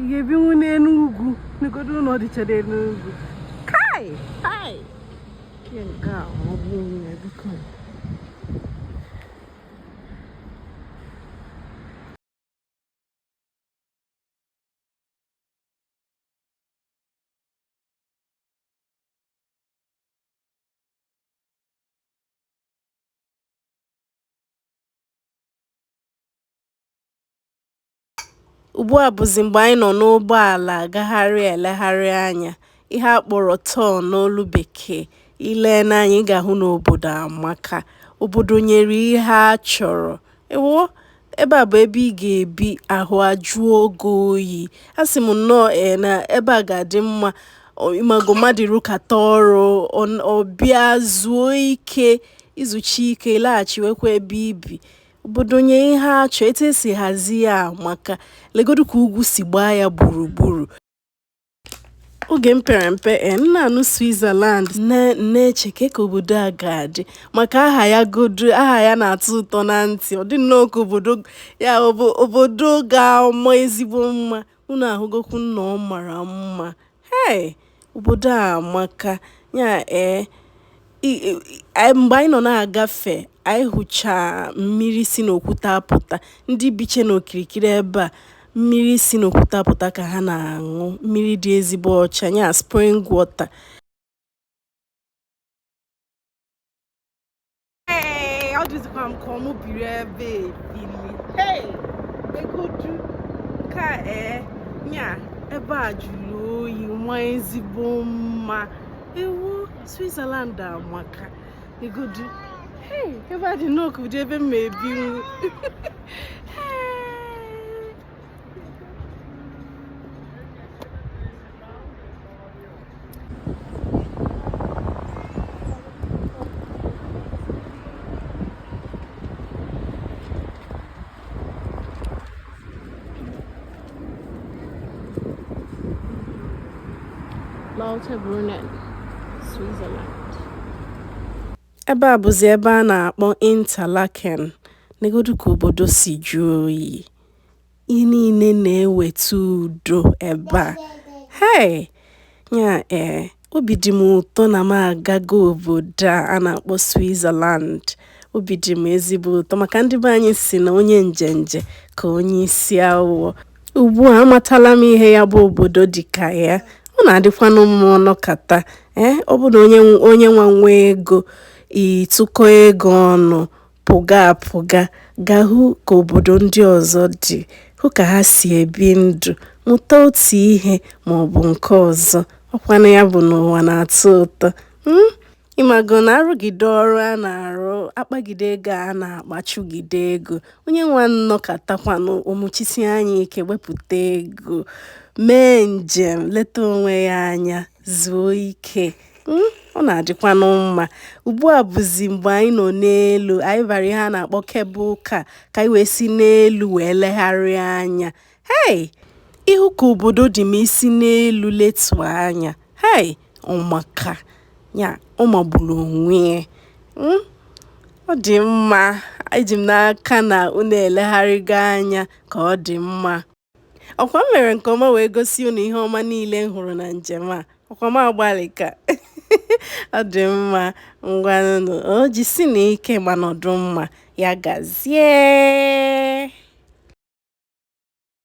ị ga-ebinwu n'elu ugwu negodu ụlọ dịchara elu ugwu kai kai nke a ọ bụ nwunye biko Ugbu a bụzị mgbe anyị nọ n'ụgbọala agagharị elegharị anya, ihe a kpọrọ tour n'olu bekee. I lee n'anya ị ga-ahụ na obodo amaka. Obodo nyere ihe a chọrọ. Ewoo! Ebe a bụ ebe ị ga-ebi ahụ ajụọ gị oyi. Asị m nnọọ ee na ebe a ga-adị mma ọ- ị mago mmadụ rụkata ọrụ ọ- ọ bịa zuo ike i zuchaa ike ị laghachiwekwa ebe i bi. obodo nye ihe a chọ etu esi hazie ya maka legodu ka ugwu si gbaa ya gburugburu oge m pere mpe eh, m na-anụ Switzerland na-eche ka ka obodo a ga-adị maka aha ya godu aha ya na-atọ ụtọ na ntị ọ dị nnọọ ka obodo ya obodo ga-ama ezigbo mma unu ahụgokwu na ọ mara mma hei obodo a amaka ya ee mgbe anyị nọ na-agafe anyị hụcha mmiri si n'okwute apụta ndị bicha n'okirikiri ebe a mmiri si n'okwute apụta ka ha na-aṅụ mmiri dị ezigbo ọcha ya spring water Hey, ọ dịzikwa m ka ọ mụ biri ebe a ebili hey negodu ka ee eh, nya ebe a jụrụ oyi maa ezigbo mma ewoo Switzerland amaka negodu hey ebe a dị nnọọ ka ụdị ebe m ma ebinwu Lauterbrunnen, Switzerland. Ebe a bụzi ebe a na-akpọ Interlaken, negodu ka obodo si jụọ oyi. Ihe niile na-eweta udo ebe a. Hey! Ya ee, obi dị m ụtọ na m agago obodo a a na-akpọ Switzerland. Obi dị m ezigbo ụtọ maka ndị be anyị si na onye njenje ka onye isi awọ. Ugbu a amatala m ihe ya bụ obodo dị ka ya. Ọ na-adịkwanụ mma ọ nọkata. Ee, eh, ọ bụ na onye nwa nwee ego, ị tụkọ ego ọnụ. pụga apụga gaa hụ ka obodo ndị ọzọ dị, hụ ka ha si ebi ndụ, mụta otu ihe ma ọ bụ nke ọzọ. Ọ kwanụ ya bụ na ụwa na-atọ ụtọ? um Ị mago na a rụgide ọrụ a na-arụ, a kpagide ego a na-akpa, a chụgide ego, onye ahụ nọkatakwanụ o muchisie anya ike wepụta ego, mee njem, leta onwe ya anya, zuo ike. Hmm? ọ na-adịkwanụ mma ugbu a bụzi mgbe anyị nọ n'elu anyị bara ihe a na-akpọ cable car ka anyị wee si n'elu wee legharịa anya hei ị hụ ka obodo dị ma i si n'elu letuo anya hei ọ maka ọ magburu onwe ya hmm? ọ dị mma eji m n'aka na unu elegharịgo anya ka ọ dị mma ọkwa m mere nke ọma wee gosi unu ihe ọma niile m hụrụ na njem a ọkwa m agbalịka ọ dị mma ngwanụ o jisienụ ike ma nọdụ mma ya gazie